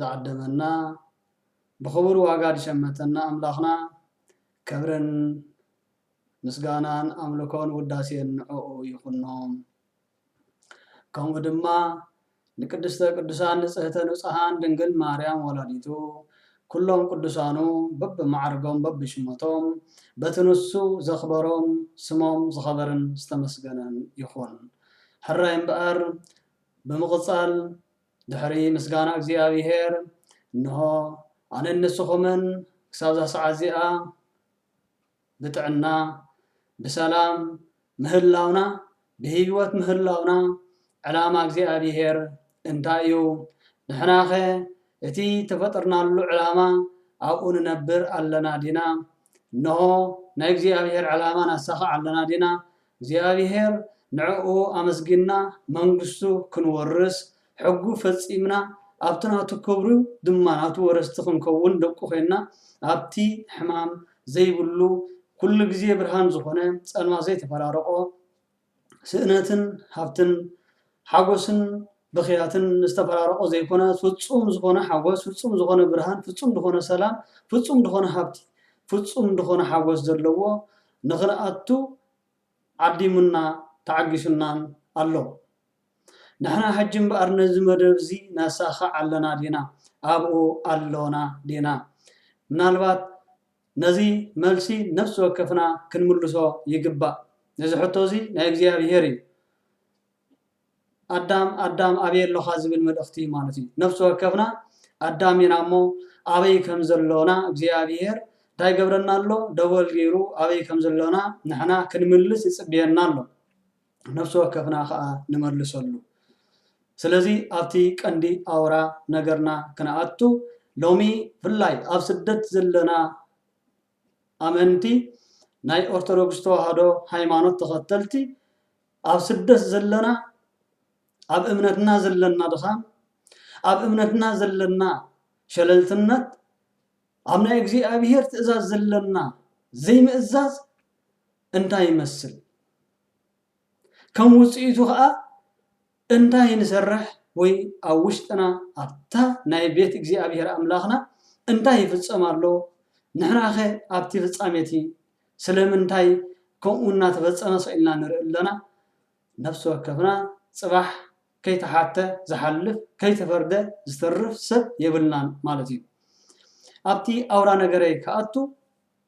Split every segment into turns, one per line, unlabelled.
ዝዓደመና ብኽቡር ዋጋ ዝሸመተና ኣምላኽና ከብርን ምስጋናን ኣምልኮን ውዳሴን ንዕኡ ይኹኖ ከምኡ ድማ ንቅድስተ ቅዱሳን ንጽህተ ንጹሃን ድንግል ማርያም ወላዲቱ ኩሎም ቅዱሳኑ በብማዕርጎም በብሽመቶም በቲ ንሱ ዘኽበሮም ስሞም ዝኸበርን ዝተመስገነን ይኹን ሕራይ እምበኣር ብምቕጻል ድሕሪ ምስጋና እግዚኣብሄር፣ እንሆ፣ ኣነን ንስኹምን ክሳብ እዛ ሰዓት እዚኣ ብጥዕና፣ ብሰላም ምህላውና፣ ብህይወት ምህላውና፣ ዕላማ እግዚኣብሄር እንታይ እዩ? ንሕናኸ እቲ ተፈጥርናሉ ዕላማ ኣብኡ ንነብር ኣለና ዲና? እንሆ፣ ናይ እግዚኣብሄር ዕላማ ነሳኽዕ ኣለና ዲና? እግዚኣብሔር ንዕኡ ኣመስጊንና መንግስቱ ክንወርስ ሕጉ ፈጺምና ኣብቲ ናቱ ክብሩ ድማ ናቱ ወረስቲ ክንከውን ደቁ ኮይንና ኣብቲ ሕማም ዘይብሉ ኩሉ ግዜ ብርሃን ዝኾነ ጸልማት ዘይተፈራረቆ ስእነትን ሃብትን ሓጎስን ብኽያትን ዝተፈራረቆ ዘይኮነ ፍጹም ዝኾነ ሓጎስ፣ ፍጹም ዝኾነ ብርሃን፣ ፍጹም ድኾነ ሰላም፣ ፍጹም ድኾነ ሃብቲ፣ ፍጹም ድኾነ ሓጎስ ዘለዎ ንኽንኣቱ ዓዲሙና ተዓጊሱናን ኣሎ። ንሕና ሕጂ እምበኣር ነዚ መደብ እዚ ነሳኽዕ ኣለና ዲና? ኣብኡ ኣሎና ዲና? ምናልባት ነዚ መልሲ ነፍሲ ወከፍና ክንምልሶ ይግባእ። እዚ ሕቶ እዚ ናይ እግዚኣብሄር እዩ። ኣዳም ኣዳም ኣበይ ኣሎኻ ዝብል መልእኽቲ ማለት እዩ። ነፍሲ ወከፍና ኣዳም ኢና እሞ ኣበይ ከም ዘሎና እግዚኣብሄር እንታይ ይገብረና ኣሎ? ደወል ገይሩ ኣበይ ከም ዘሎና ንሕና ክንምልስ ይጽበየና ኣሎ። ነፍሲ ወከፍና ከኣ ንመልሰሉ። ስለዚ ኣብቲ ቀንዲ ኣውራ ነገርና ክንኣቱ ሎሚ ብፍላይ ኣብ ስደት ዘለና ኣመንቲ ናይ ኦርቶዶክስ ተዋህዶ ሃይማኖት ተኸተልቲ ኣብ ስደት ዘለና ኣብ እምነትና ዘለና ድኻም ኣብ እምነትና ዘለና ሸለልትነት ኣብ ናይ እግዚኣብሔር ትእዛዝ ዘለና ዘይምእዛዝ እንታይ ይመስል? ከም ውፅኢቱ ከዓ እንታይ ንሰርሕ ወይ ኣብ ውሽጥና ኣብታ ናይ ቤት እግዚኣብሔር ኣምላክና እንታይ ይፍፀም ኣሎ? ንሕና ከ ኣብቲ ፍፃመ እቲ ስለምንታይ ከምኡ እናተፈፀመ ስቅ ኢልና ንሪኢ ኣለና? ነፍሲ ወከፍና ፅባሕ ከይተሓተ ዝሓልፍ ከይተፈርደ ዝተርፍ ሰብ የብልናን ማለት እዩ። ኣብቲ ኣውራ ነገረይ ክኣቱ፣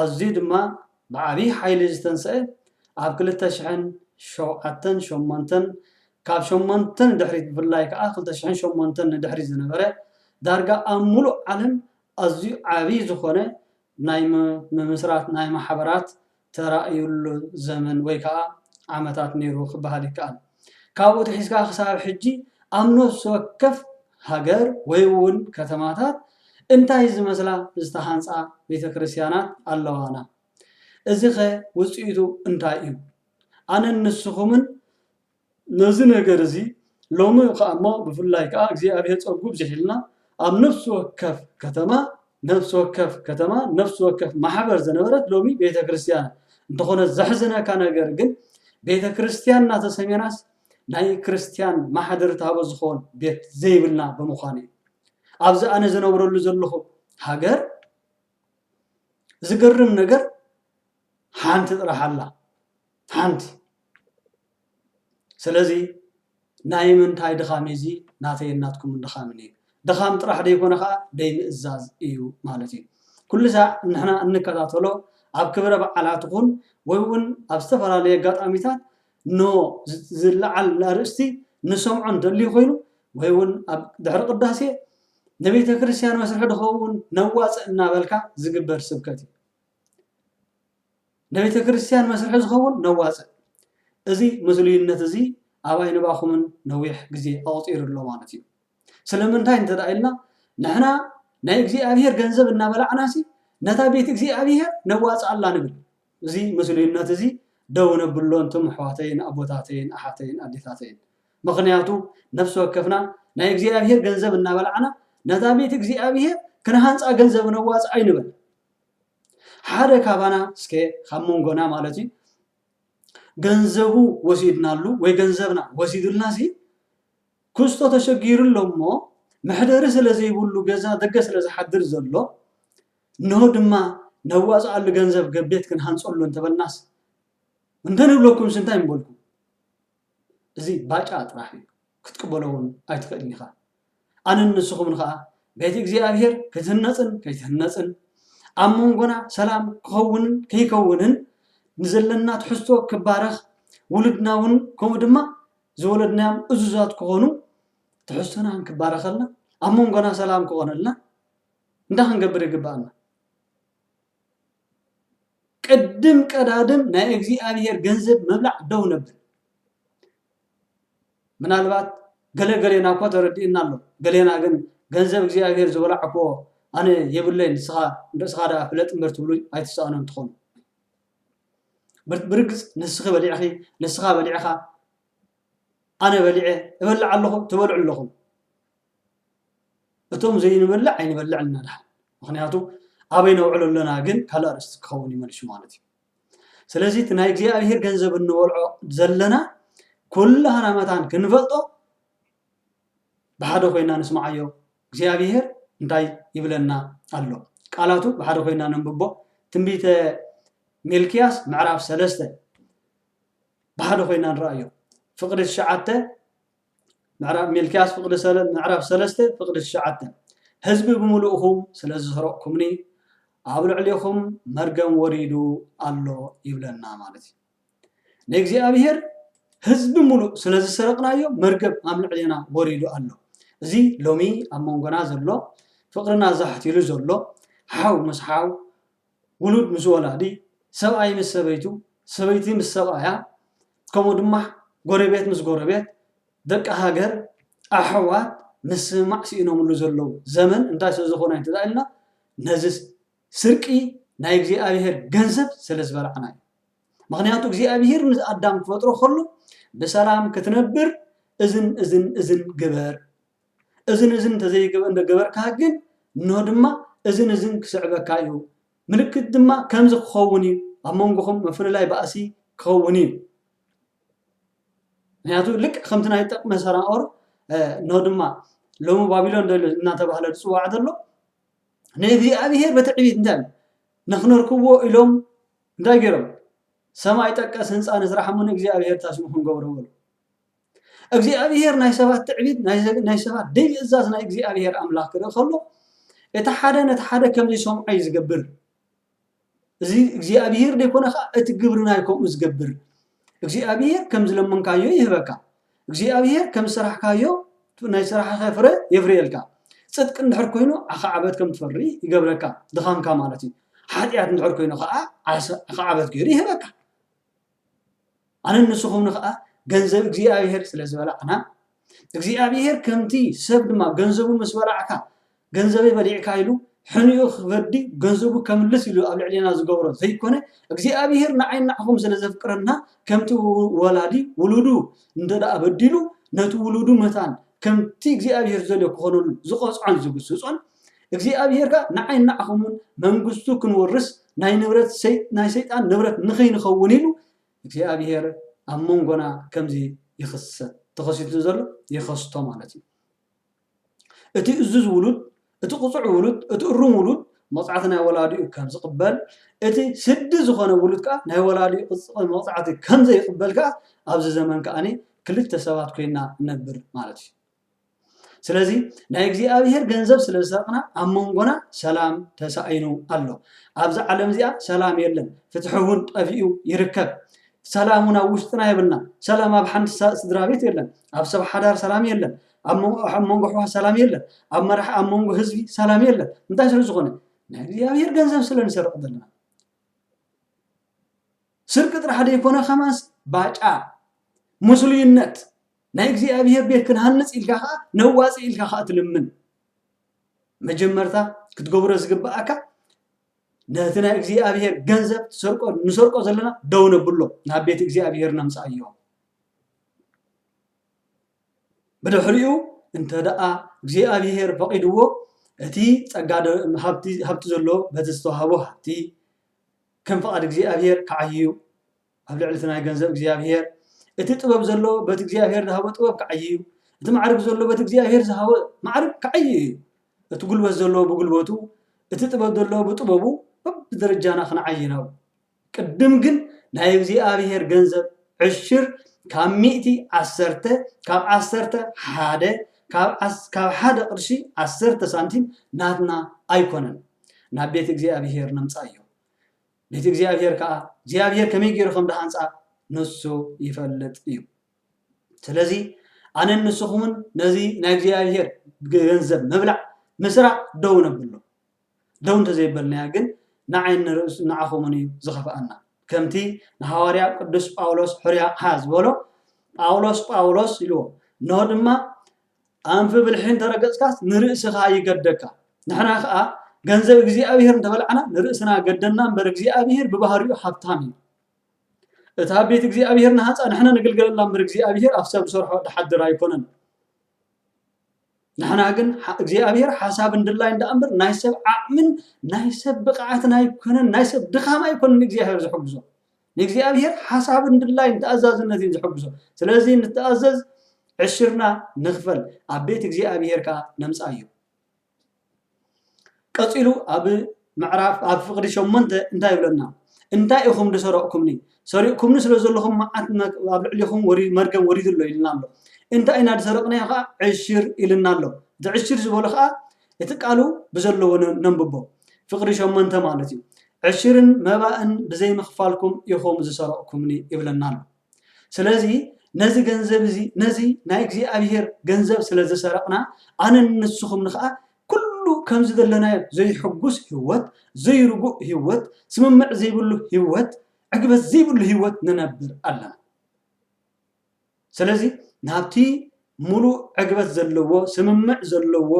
ኣዝዩ ድማ ብዓብይ ሓይሊ ዝተንሰኤ ኣብ ክልተ ሽሕን ሸውዓተን ሸሞንተን ካብ ሸሞንተ ንድሕሪት ብፍላይ ከኣ ክልተ ሽሕን ሸሞንተን ንድሕሪት ዝነበረ ዳርጋ ኣብ ሙሉእ ዓለም ኣዝዩ ዓብይ ዝኾነ ናይ ምምስራት ናይ ማሕበራት ተራእዩሉ ዘመን ወይ ከኣ ዓመታት ነይሩ ክበሃል ይከኣል። ካብኡ ኣትሒዝካ ክሳብ ሕጂ ኣብ ነፍሲ ወከፍ ሃገር ወይ እውን ከተማታት እንታይ ዝመስላ ዝተሃንጻ ቤተ ክርስቲያናት ኣለዋና? እዚኸ ውጽኢቱ እንታይ እዩ? ኣነን ንስኹምን ነዚ ነገር እዚ ሎሚ ከኣ እሞ ብፍላይ ከኣ እግዚኣብሔር ጸጉ ኣብዚሕልና ኣብ ነፍሲ ወከፍ ከተማ ነፍሲ ወከፍ ከተማ ነፍሲ ወከፍ ማሕበር ዘነበረት ሎሚ ቤተ ክርስቲያን እንተኾነ ዘሕዝነካ ነገር ግን ቤተ ክርስቲያን እናተሰሜናስ ናይ ክርስቲያን ማሕደር ታቦ ዝኾን ቤት ዘይብልና ብምዃኑ እዩ ኣብዚ ኣነ ዝነብረሉ ዘለኹ ሃገር ዝገርም ነገር ሓንቲ ጥራሕ ኣላ ሓንቲ ስለዚ ናይምንታይ ድኻም እዩ እዚ ናተይን ናትኩምን ድኻምን እዩ። ድኻም ጥራሕ ዘይኮነ ከኣ ዘይምእዛዝ እዩ ማለት እዩ። ኩሉ ሳዕ ንሕና እንከታተሎ ኣብ ክብረ በዓላት ይኹን ወይ እውን ኣብ ዝተፈላለየ ኣጋጣሚታት ን ዝለዓል ኣርእስቲ ንሰምዖ እንደልዩ ኮይኑ ወይ እውን ኣብ ድሕሪ ቅዳሴ ንቤተ ክርስቲያን መስርሒ ድኸውን ነዋፅእ እናበልካ ዝግበር ስብከት እዩ። ንቤተክርስትያን መስርሒ ዝኸውን ነዋጽእ። እዚ ምስሉይነት እዚ ኣብ ኣይንባኹምን ነዊሕ ግዜ ኣቑጺሩ ኣሎ ማለት እዩ። ስለምንታይ እንተ ኢልና ንሕና ናይ እግዚኣብሔር ገንዘብ እናበላዕናሲ ነታ ቤት እግዚኣብሔር ነዋጽኣላ ንብል። እዚ ምስሉይነት እዚ ደው ነብሎ ኣንቱም ኣሕዋተይን ኣቦታተይን ኣሓተይን ኣዴታተይን። ምኽንያቱ ነፍሲ ወከፍና ናይ እግዚኣብሔር ገንዘብ እናበላዕና ነታ ቤት እግዚኣብሔር ክንሃንጻ ገንዘብ ነዋጽእ ኣይንበል። ሓደ ካባና እስከ ካብ መንጎና ማለት እዩ ገንዘቡ ወሲድናሉ ወይ ገንዘብና ወሲዱልና ሲ ክስቶ ተሸጊሩ ኣሎ እሞ መሕደሪ ስለ ዘይብሉ ገዛ ደገ ስለ ዝሓድር ዘሎ እንሆ ድማ ነዋፅኣሉ ገንዘብ ገቤት ክንሃንፀሉ እንተበልናስ እንተንብለኩምስ እንታይ ምበልኩም? እዚ ባጫ ጥራሕ እዩ ክትቅበሎ ውን ኣይትክእልን ኢካ ኣነን ንስኩምን ከኣ ቤት እግዚኣብሄር ክትህነጽን ከይትህነጽን ኣብ መንጎና ሰላም ክከውንን ከይከውንን ንዘለና ትሕዝቶ ክባረክ ውሉድና ውን ከምኡ ድማ ዝወለድናዮም እዙዛት ክኮኑ ትሕዝቶና እንክባረከልና ኣብ መንጎና ሰላም ክኮነልና እንታይ ክንገብር ይግበኣና። ቅድም ቀዳድም ናይ እግዚኣብሔር ገንዘብ ምብላዕ ደው ነብል። ምናልባት ገለ ገሌና እኳ ተረዲኡና ኣሎ። ገሌና ግን ገንዘብ እግዚኣብሔር ዝበላዕክዎ ኣነ የብለይን ንስኻ ርእስኻ ደኣ ፍለጥ እምበር ትብሉ ኣይትሰኣኑን ትኾኑ። ብርግጽ ንስኺ በሊዕኺ፣ ንስኻ በሊዕኻ፣ ኣነ በሊዐ፣ እበልዕ ኣለኹ፣ ትበልዑ ኣለኹም። እቶም ዘይንበልዕ ኣይንበልዕ እና ድሓን ምክንያቱ ኣበይ ነውዕሎ ኣለና ግን ካልእ ኣርእስቲ ክከውን እዩ መልሱ ማለት እዩ ስለዚ እቲ ናይ እግዚኣብሄር ገንዘብ እንበልዖ ዘለና ኩላህና መታን ክንፈልጦ ብሓደ ኮይና ንስምዓዮ እግዚኣብሄር እንታይ ይብለና ኣሎ ቃላቱ ብሓደ ኮይና ነንብቦ ትንቢተ ሚልክያስ ምዕራፍ ሰለስተ ብሓደ ኮይና ንረኣዮ ፍቅዲ ትሽዓተ ምዕራብ ሚልክያስ ፍቅዲ ሰለ ምዕራፍ ሰለስተ ፍቅዲ ትሽዓተ ህዝቢ ብምሉእኹም ስለ ዝሰረቕኩምኒ ኣብ ልዕሌኹም መርገም ወሪዱ ኣሎ ይብለና ማለት እዩ ንእግዚኣብሔር ህዝቢ ሙሉእ ስለ ዝሰረቕናዮ መርገም ኣብ ልዕሌና ወሪዱ ኣሎ እዚ ሎሚ ኣብ መንጎና ዘሎ ፍቅርና ዛሕቲሉ ዘሎ ሓው ምስ ሓው ውሉድ ምስ ወላዲ፣ ሰብኣይ ምስ ሰበይቱ፣ ሰበይቲ ምስ ሰብኣያ፣ ከምኡ ድማ ጎረቤት ምስ ጎረቤት፣ ደቂ ሃገር፣ ኣሕዋት ምስምማዕ ስኢኖምሉ ዘለዉ ዘመን እንታይ ስለ ዝኾነ እንተ ኢልና ነዚ ስርቂ ናይ እግዚኣብሄር ገንዘብ ስለ ዝበላዕና እዩ። ምኽንያቱ እግዚኣብሄር ንኣዳም ክፈጥሮ ከሎ ብሰላም ክትነብር እዝን እዝን እዝን ግበር እዝን እዝን እንተዘይገበርካ ግን እንሆ ድማ እዝን እዝን ክስዕበካ እዩ፣ ምልክት ድማ ከምዚ ክኸውን እዩ፣ ኣብ መንጎኹም ምፍልላይ ባእሲ ክኸውን እዩ። ምክንያቱ ልክዕ ከምቲ ናይ ጠቅመ ሰናኦር እንሆ ድማ ሎሚ ባቢሎን እናተባህለ ዝፅዋዕ ዘሎ ንእግዚኣብሔር በትዕቢት እንታይ ንክነርክብዎ ኢሎም እንታይ ገይሮም ሰማይ ጠቀስ ህንፃ ንስራሕ እሞ ንእግዚኣብሔር ታስሙ ክንገብሮ በሉ እግዚኣብሄር ናይ ሰባት ትዕቢት ናይ ሰባት ዘይምእዛዝ ናይ እግዚኣብሄር ኣምላኽ ክርኢ ከሎ እቲ ሓደ ነቲ ሓደ ከም ዘይሰምዖ እዩ ዝገብር እዚ እግዚኣብሄር ዘይኮነ ከዓ እቲ ግብርና እዩ ከምኡ ዝገብር እግዚኣብሄር ከም ዝለመንካዮ ይህበካ እግዚኣብሄር ከም ዝሰራሕካዮ ናይ ስራሕኸ ፍረ የፍርየልካ ፅድቂ እንድሕር ኮይኑ ኣኻዕበት ከም ትፈሪ ይገብረካ ድኻምካ ማለት እዩ ሓጢኣት እንድሕር ኮይኑ ከዓ ኣኻዕበት ገይሩ ይህበካ ኣነን ንስኹምን ኸኣ ገንዘብ እግዚኣብሔር ስለ ዝበላዕና እግዚኣብሔር ከምቲ ሰብ ድማ ገንዘቡ ምስ በላዕካ ገንዘበይ በሊዕካ ኢሉ ሕንኡ ክፈዲ ገንዘቡ ከምልስ ኢሉ ኣብ ልዕሌና ዝገብሮ ዘይኮነ እግዚኣብሔር ንዓይ ንዓኹም ስለ ዘፍቅረና ከምቲ ወላዲ ውሉዱ እንተ ደኣ በዲሉ ነቲ ውሉዱ መታን ከምቲ እግዚኣብሔር ዘልዮ ክኾነሉ ዝቐጽዖን ዝግስጾን እግዚኣብሄር ከኣ ንዓይን ንዓኹምን መንግስቱ ክንውርስ ናይ ንብረት ናይ ሰይጣን ንብረት ንክይንኸውን ኢሉ እግዚኣብሄር ኣብ መንጎና ከምዚ ይኽሰት ተኸሲቱ ዘሎ ይኸስቶ ማለት እዩ እቲ እዙዝ ውሉድ እቲ ቁፁዕ ውሉድ እቲ እሩም ውሉድ መቕፃዕቲ ናይ ወላዲኡ ከም ዝቕበል እቲ ስዲ ዝኾነ ውሉድ ከዓ ናይ ወላዲኡ መቕፃዕቲ ከም ዘይቕበል ከዓ ኣብዚ ዘመን ከዓኒ ክልተ ሰባት ኮይና እነብር ማለት እዩ ስለዚ ናይ እግዚኣብሔር ገንዘብ ስለ ዝሰረቅና ኣብ መንጎና ሰላም ተሳኢኑ ኣሎ ኣብዚ ዓለም እዚኣ ሰላም የለን ፍትሒ እውን ጠፊኡ ይርከብ ሰላም እውን ኣብ ውሽጥና የብልና ሰላም ኣብ ሓንቲ ስድራ ቤት የለን ኣብ ሰብ ሓዳር ሰላም የለን ኣብ መንጎ ኣሕዋ ሰላም የለን ኣብ መራሕ ኣብ መንጎ ህዝቢ ሰላም የለን እንታይ ስለ ዝኾነ ናይ እግዚኣብሔር ገንዘብ ስለ ንሰርቕ ዘለና ስርቂ ጥራሕ ደይኮነ ከማስ ባጫ ሙስሉይነት ናይ እግዚኣብሔር ቤት ክንሃንጽ ኢልካ ከኣ ነዋጽእ ኢልካ ከኣ ትልምን መጀመርታ ክትገብሮ ዝግብኣካ ነቲ ናይ እግዚኣብሔር ገንዘብ ትሰርቆ ንሰርቆ ዘለና ደው ነብሎ ናብ ቤት እግዚኣብሔር ነምጽኣዮ ብድሕሪኡ እንተ ደኣ እግዚኣብሔር ፈቒድዎ እቲ ጸጋ ሃብቲ ዘለዎ በቲ ዝተዋህቦ ሃብቲ ከም ፍቓድ እግዚኣብሔር ክዓይዩ ኣብ ልዕሊ እቲ ናይ ገንዘብ እግዚኣብሄር፣ እቲ ጥበብ ዘሎ በቲ እግዚኣብሄር ዝሃቦ ጥበብ ክዓዪ እዩ፣ እቲ ማዕርግ ዘሎ በቲ እግዚኣብሄር ዝሃቦ ማዕርግ ክዓዪ እዩ፣ እቲ ጉልበት ዘሎ ብጉልበቱ፣ እቲ ጥበብ ዘሎ ብጥበቡ በብደረጃና ክንዓዪ ናብ ቅድም ግን ናይ እግዚኣብሄር ገንዘብ ዕሽር ካብ ሚእቲ ዓሰርተ ካብ ዓሰርተ ሓደ ካብ ዓስ- ካብ ሓደ ቅርሺ ዓሰርተ ሳንቲም ናትና ኣይኮነን ናብ ቤት እግዚኣብሄር ነምጻዮ ነቲ እግዚኣብሄር ከኣ እግዚኣብሄር ከመይ ገይሩ ከም ዝሃንጻ ንሱ ይፈልጥ እዩ። ስለዚ ኣነን ንስኹምን ነዚ ናይ እግዚኣብሄር ገንዘብ ምብላዕ ምስራቕ ደው ነብሎ። ደው እንተዘይበልናዮ ግን ንዓይን ንርእስ ንዓኹምን እዩ ዝኸፍኣና። ከምቲ ንሃዋርያ ቅዱስ ጳውሎስ ሕርያ ሃ ዝበሎ ጳውሎስ ጳውሎስ ኢልዎ እነሆ ድማ ኣንፊ ብልሒ እንተረገጽካስ ንርእስኻ ይገደካ ንሕና ከኣ ገንዘብ እግዚኣብሄር እንተበላዕና ንርእስና ገደና እምበር እግዚኣብሄር ብባህሪኡ ሃብታም እዩ እታ ቤት እግዚኣብሄር ንሃንጻ ንሕና ንግልገለላ እምበር እግዚኣብሄር ኣብ ሰብ ዝሰርሖ ድሓድር ኣይኮነን ንሕና ግን እግዚኣብሄር ሓሳብን ድላይን ደኣ እምበር ናይ ሰብ ዓቕምን ናይ ሰብ ብቕዓትን ኣይኮነን ናይ ሰብ ድኻም ኣይኮነን እግዚኣብሄር ዝሕግዞ ንእግዚኣብሔር ሓሳብን ድላይን ተኣዛዝነት እዩ ዝሕግዞ። ስለዚ ንተኣዘዝ ዕሽርና ንኽፈል ኣብ ቤት እግዚኣብሔር ከኣ ነምጽኣዮ። ቀጺሉ ኣብ ምዕራፍ ኣብ ፍቕዲ ሸሞንተ እንታይ ይብለና? እንታይ ኢኹም ዝሰረቕኩምኒ? ሰሪቕኩምኒ ስለ ዘለኹም መዓት ኣብ ልዕሊኹም መርገም ወሪዱ ኣሎ ኢልና ኣሎ። እንታይ ኢና ዝሰረቕናዮ ከዓ ዕሽር ኢልና ኣሎ። እቲ ዕሽር ዝበሎ ከዓ እቲ ቃሉ ብዘለዎ ነንብቦ ፍቕዲ ሸሞንተ ማለት እዩ። ዕሽርን መባእን ብዘይ ምኽፋልኩም ኢኹም ዝሰረቕኩምኒ ይብለና ኣሎ። ስለዚ ነዚ ገንዘብ እዚ ነዚ ናይ እግዚኣብሄር ገንዘብ ስለ ዝሰረቕና ኣነን ንስኹምን ኸኣ ኩሉ ከም ዝደለናዮ ዘይሕጉስ ህይወት፣ ዘይርጉእ ህይወት፣ ስምምዕ ዘይብሉ ህይወት፣ ዕግበት ዘይብሉ ህይወት ንነብር ኣለና። ስለዚ ናብቲ ሙሉእ ዕግበት ዘለዎ ስምምዕ ዘለዎ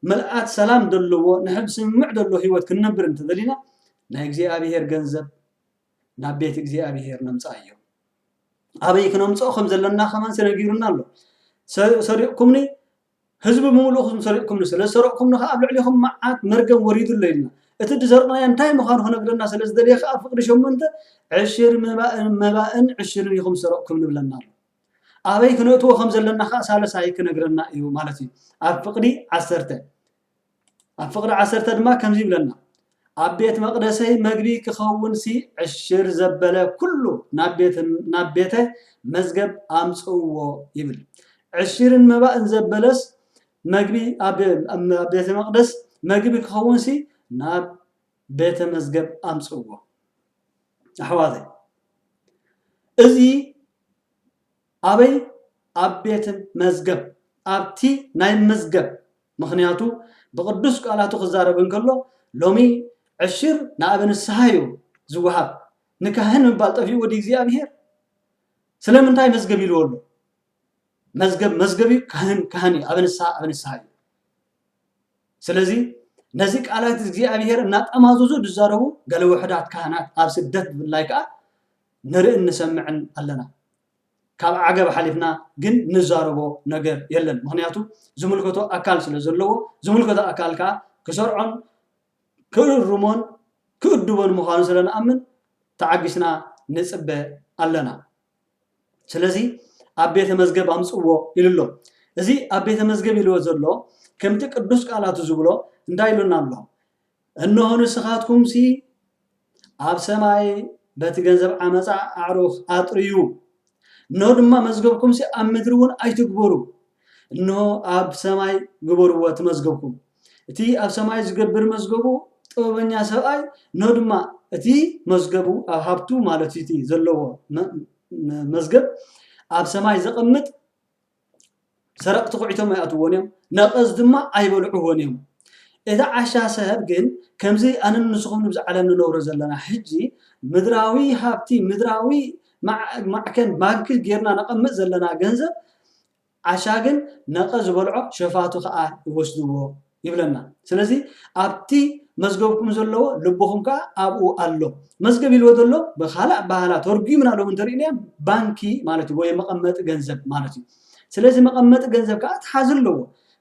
ምልኣት ሰላም ዘለዎ ንሐ ብስምምዕ ዘሎ ህይወት ክንነብር እንተደሊና ናይ እግዚኣብሔር ገንዘብ ናብ ቤት እግዚኣብሔር ነምጽኣዮ ኣበይ ክነምጽኦ ከም ዘለና ከማን ተነጊሩና ኣሎ ሰሪቕኩምኒ ህዝቢ ብምሉኡ ኹም ሰሪቕኩምኒ፣ ስለ ዝሰረቕኩምኒ ኸኣ ኣብ ልዕሌኹም መዓት፣ መርገም፣ ወሪዱ ኣሎ ኢልና። እቲ ዝሰርቕናዮ እንታይ ምዃኑ ኽነግረና ስለ ዝደለየ ኸኣ ፍቕዲ ሸሞንተ ዕሽር መባእን መባእን ዕሽርን ኢኹም ዝሰረቕኩም ንብለና ኣሎ። ኣበይ ክነእትዎ ከም ዘለና ኸኣ ሳልሳይ ክነግረና እዩ ማለት እዩ። ኣብ ፍቕዲ ዓሰርተ። ኣብ ፍቕዲ ዓሰርተ ድማ ከምዚ ይብለና፣ ኣብ ቤት መቕደሰይ መግቢ ኪኸውንሲ ዕሽር ዘበለ ኵሉ ናብ ቤተ መዝገብ ኣምጽእዎ ይብል። ዕሽርን መባእን ዘበለስ መግቢ ኣብ ቤተ መቕደስ መግቢ ኪኸውንሲ ናብ ቤተ መዝገብ ኣምጽእዎ። ኣሕዋተይ እዚ ኣበይ ኣብ ቤት መዝገብ ኣብቲ ናይ ምዝገብ ምኽንያቱ ብቅዱስ ቃላቱ ክዛረብ እንከሎ ሎሚ ዕሽር ንኣበ ንስሃ እዩ ዝወሃብ ንካህን ምባል ጠፊኡ ወዲ እግዚኣብሔር ስለምንታይ መዝገብ ኢልዎ ኣሎ መዝገብ መዝገብ እዩ ካህን ካህን እዩ ኣበ ንስሃ ኣበ ንስሃ እዩ ስለዚ ነዚ ቃላት እግዚኣብሔር እናጠማዘዙ ዝዛረቡ ገለ ውሕዳት ካህናት ኣብ ስደት ብፍላይ ከዓ ንርእን ንሰምዕን ኣለና ካብ ዓገብ ሓሊፍና ግን ንዛረቦ ነገር የለን ምኽንያቱ ዝምልከቶ ኣካል ስለ ዘለዎ ዝምልከቶ ኣካል ከኣ ክሰርዖን ክእርሞን ክእድቦን ምዃኑ ስለ ንኣምን ተዓጊስና ንጽበ ኣለና ስለዚ ኣብ ቤተ መዝገብ ኣምጽዎ ኢሉ ኣሎ እዚ ኣብ ቤተ መዝገብ ኢልዎ ዘሎ ከምቲ ቅዱስ ቃላቱ ዝብሎ እንታይ ኢሉና ኣሎ እንሆ ንስኻትኩምሲ ኣብ ሰማይ በቲ ገንዘብ ዓመጻ ኣዕሩኽ ኣጥርዩ፣ እንሆ ድማ መዝገብኩምሲ ኣብ ምድሪውን ኣይትግበሩ፣ እንሆ ኣብ ሰማይ ግበርዎ እቲ መዝገብኩም። እቲ ኣብ ሰማይ ዝገብር መዝገቡ ጥበበኛ ሰብኣይ፣ እንሆ ድማ እቲ መዝገቡ ኣብ ሃብቱ ማለት እቲ ዘለዎ መዝገብ ኣብ ሰማይ ዘቐምጥ ሰረቕቲ ኩዒቶም ኣይኣትዉዎን እዮም፣ ነቐዝ ድማ ኣይበልዑዎን እዮም። እቲ ዓሻ ሰብ ግን ከምዚ ኣነን ንስኹምን ኣብዚ ዓለም ንነብሮ ዘለና ሕጂ ምድራዊ ሃብቲ ምድራዊ ማዕከን ባንኪ ጌርና ነቐምጥ ዘለና ገንዘብ ዓሻ ግን ነቐዝ ዝበልዖ ሸፋቱ ከኣ ይወስድዎ። ይብለና ስለዚ ኣብቲ መዝገብኩም ዘለዎ ልብኹም ከኣ ኣብኡ ኣሎ መዝገብ ኢልዎ ዘሎ ብካልእ ኣበሃህላ ተርጉምና ሎሚ እንተሪእናዮ ባንኪ ማለት እዩ ወይ መቐመጢ ገንዘብ ማለት እዩ ስለዚ መቐመጢ ገንዘብ ከኣ ትሓዝ ኣለዎ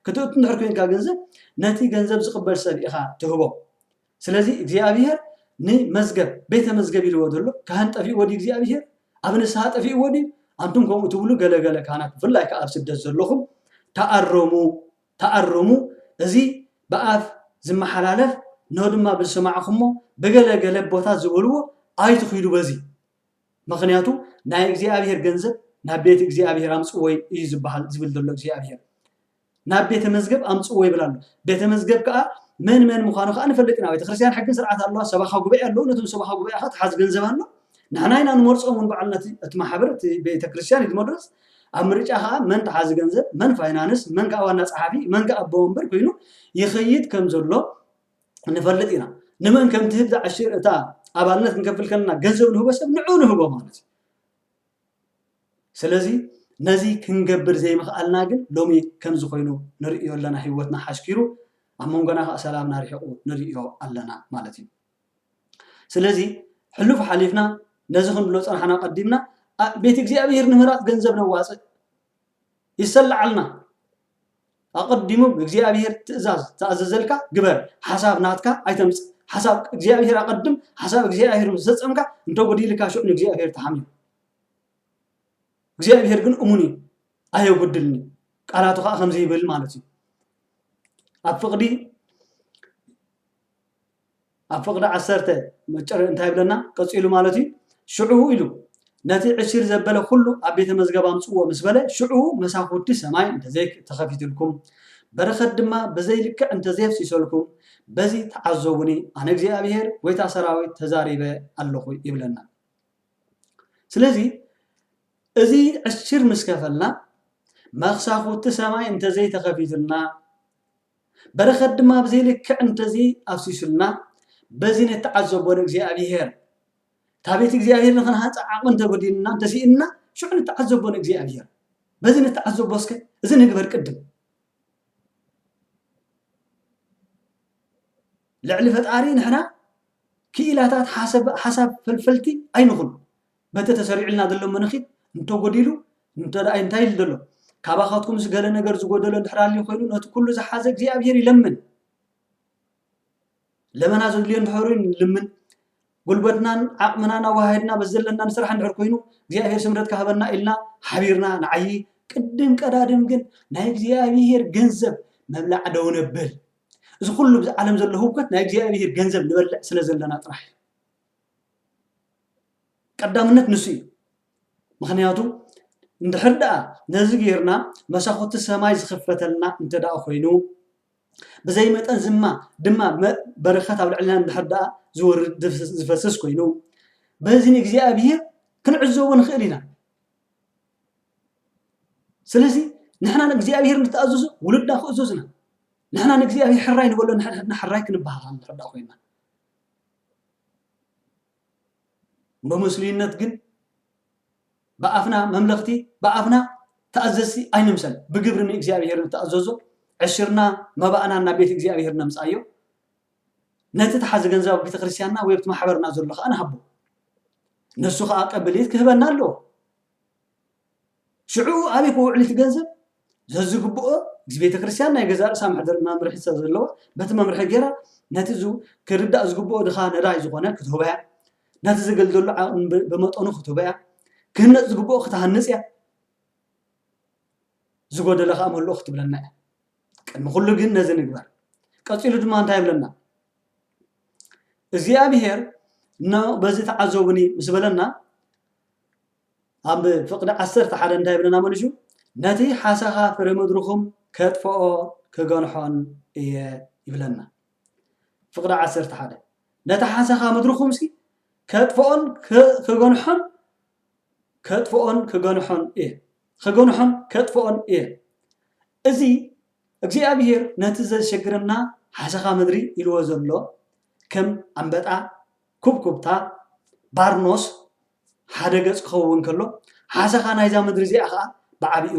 ክትእቱ እንድሕር ኮንካ ገንዘብ ነቲ ገንዘብ ዝቕበል ሰብ ኢኻ ትህቦ ስለዚ እግዚኣብሄር ንመዝገብ ቤተ መዝገብ ኢልዎ ዘሎ ካህን ጠፊእዎ ድዩ እግዚኣብሄር ኣብ ንስሓ ጠፊእዎ ድዩ ኣንቱም ከምኡ ትብሉ ገለገለ ካህናት ብፍላይ ከዓ ኣብ ስደት ዘለኹም ተኣረሙ ተኣረሙ እዚ ብኣፍ ዝመሓላለፍ ን ድማ ብዝሰማዕኹሞ ብገለ ገለ ኣቦታት ዝበልዎ ኣይትኺዱ በዚ ምኽንያቱ ናይ እግዚኣብሔር ገንዘብ ናብ ቤት እግዚኣብሔር ኣምጽዎ እዩ ዝበሃል ዝብል ዘሎ እግዚኣብሔር ናብ ቤተ መዝገብ ኣምጽዎ ይብል ኣሎ ቤተ መዝገብ ከኣ መን መን ምዃኑ ከኣ ንፈልጥ ኢና ቤተክርስትያን ሕግን ስርዓት ኣለዋ ሰባኻ ጉባኤ ኣለዉ ነቶም ሰባኻ ጉባኤ ከኣ ትሓዝ ገንዘብ ኣሎ ንሕና ኢና ንመርጾም እውን በዓልና እቲ ማሕበር እቲ ቤተክርስትያን እዩ ዝመርጽ ኣብ ምርጫ ከኣ መን ተሓዚ ገንዘብ፣ መን ፋይናንስ፣ መን ከኣ ዋና ጸሓፊ፣ መን ከኣ ኣቦ ወንበር ኮይኑ ይኸይድ ከም ዘሎ ንፈልጥ ኢና። ንመን ከም ትህብ ዝዓሽር እታ ኣባልነት ክንከፍል ከለና ገንዘብ ንህቦ ሰብ ንዑ ንህቦ ማለት እዩ። ስለዚ ነዚ ክንገብር ዘይምኽኣልና ግን ሎሚ ከምዚ ኮይኑ ንርእዮ ኣለና። ህይወትና ሓሽኪሩ ኣብ መንጎና ከኣ ሰላምና ርሒቑ ንርእዮ ኣለና ማለት እዩ። ስለዚ ሕሉፍ ሓሊፍና ነዚ ክንብሎ ዝጸናሕና ቀዲምና ቤት እግዚኣብሔር ንምህራጽ ገንዘብ ነዋጽእ ይሰላዓልና ኣቐዲሙ ብእግዚኣብሔር ትእዛዝ ተኣዘዘልካ ግበር ሓሳብ ናትካ ኣይተምጽእ ሓሳብ እግዚኣብሔር ኣቐድም ሓሳብ እግዚኣብሔር ምስ ፈጸምካ እንተ ጎዲልካ ሽዑ ንእግዚኣብሔር ተሓምዩ እግዚኣብሔር ግን እሙን እዩ ኣየጉድልን እዩ ቃላቱ ከዓ ከምዚ ይብል ማለት እዩ ኣብ ፍቕዲ ኣብ ፍቕዲ ዓሰርተ መጨረ እንታይ ይብለና ቀጺሉ ማለት እዩ ሽዑ ኢሉ ነቲ ዕሺር ዘበለ ኩሉ ኣብ ቤተ መዝገብ ኣምጽዎ ምስ በለ ሽዑ መሳኹቲ ሰማይ እንተዘይ ተኸፊትልኩም በረኸት ድማ ብዘይ ልክዕ እንተዘየፍሲሰልኩም በዚ ተዓዘቡኒ ኣነ እግዚኣብሔር ጎይታ ሰራዊት ተዛሪበ ኣለኹ ይብለና ስለዚ እዚ ዕሽር ምስ ከፈልና መክሳኹቲ ሰማይ እንተዘይተኸፊትልና በረኸት ድማ ብዘይ ልክዕ እንተዘይ ኣፍሲሱልና በዚ ንተዓዘቦ ንእግዚኣብሄር እታ ቤት እግዚኣብሄር ንኽንሃንፃ ዓቕሚ እንተጎዲሉና እንተሲእንና ሽዑ ንተዓዘቦ ንእግዚኣብሄር በዚ ንተዓዘቦ እስከ እዚ ንግበር ቅድም ልዕሊ ፈጣሪ ንሕና ክኢላታት ሓሳብ ፈልፈልቲ ኣይንኹን በቲ ተሰሪዑልና ዘሎ መነኺት እንተጎዲሉ እንተደኣ እንታይ ኢሉ ዘሎ ካባኻትኩምስ ገለ ነገር ዝጎደሎ እንድሕር ኣልዩ ኮይኑ ነቲ ኩሉ ዝሓዘ እግዚኣብሄር ይለምን ለመና ዘድልዮ እንድሕር ኮይኑ ንልምን ጉልበትናን ዓቕምናን ኣወሃሂድና በዚ ዘለና ንስራሕ እንድሕር ኮይኑ እግዚኣብሄር ስምረት ካህበና ኢልና ሓቢርና ንዓዪ ቅድም ቀዳድም ግን ናይ እግዚኣብሄር ገንዘብ መብላዕ ደው ነብል እዚ ኩሉ ብዚ ዓለም ዘሎ ህውከት ናይ እግዚኣብሄር ገንዘብ ንበልዕ ስለ ዘለና ጥራሕ እዩ ቀዳምነት ንሱ እዩ ምክንያቱ እንድሕር ደኣ ነዚ ጌርና መሳኹቲ ሰማይ ዝኽፈተልና እንተ ደኣ ኮይኑ ብዘይ መጠን ዝማ ድማ በረኸት ኣብ ልዕልና እንድሕር ደኣ ዝወርድ ዝፈስስ ኮይኑ በዚ ንእግዚኣብሔር ክንዕዘቦ ንኽእል ኢና ስለዚ ንሕና ንእግዚኣብሔር ንተኣዘዙ ውሉድና ክእዘዙና ንሕና ንእግዚኣብሔር ሕራይ ንበሎ ንሕና ሕራይ ክንበሃል እንድሕር ደኣ ኮይና ሎምስሉይነት ግን ብኣፍና መምለኽቲ ብኣፍና ተኣዘዝቲ ኣይንምሰል ብግብሪ ንእግዚኣብሄር ንተኣዘዞ ዕሽርና መባእና ናብ ቤት እግዚኣብሄር ነምጽኣዮ ነቲ ተሓዚ ገንዘብ ኣብ ቤተክርስትያንና ወይ ኣብቲ ማሕበርና ዘሎ ከዓ ንሃቦ ንሱ ከዓ ቀብልት ክህበና ኣለዎ ሽዑ ኣበይ ክውዕል እቲ ገንዘብ ዘዝግብኦ እዚ ቤተክርስትያን ናይ ገዛእ ርእሳ መሕደር መምርሒ ስለዘለዋ በቲ መምርሒ ገይራ ነቲ ክርዳእ ዝግብኦ ድኻ ነዳይ ዝኾነ ክትህቦ እያ ነቲ ዘገልገሉ ዓቕሚ ብመጠኑ ክትህቦ እያ ክህነፅ ዝግብኦ ክትሃንፅ እያ ዝጎደለ ከዓ መለኦ ክትብለና እያ ቅድሚ ኩሉ ግን ነዚ ንግበር ቀፂሉ ድማ እንታይ ይብለና እግዚኣብሄር በዚ ተዓዘቡኒ ምስ በለና ኣብ ፍቕዲ ዓሰርተ ሓደ እንታይ ይብለና መሊሹ ነቲ ሓሰኻ ፍረ ምድርኹም ከጥፍኦ ክገንሖን እየ ይብለና ፍቕዲ ዓሰርተ ሓደ ነቲ ሓሰኻ ምድርኹም ሲ ከጥፍኦን ክገንሖን ከጥፍኦን ክገንሖን እየ ክገንሖን ከጥፍኦን እየ እዚ እግዚኣብሄር ነቲ ዘሸግረና ሓሰኻ ምድሪ ኢልዎ ዘሎ ከም ኣንበጣ ኩብኩብታ ባርኖስ ሓደ ገጽ ክኸውን ከሎ፣ ሓሰኻ ናይዛ ምድሪ እዚኣ ኸኣ ብዓቢኡ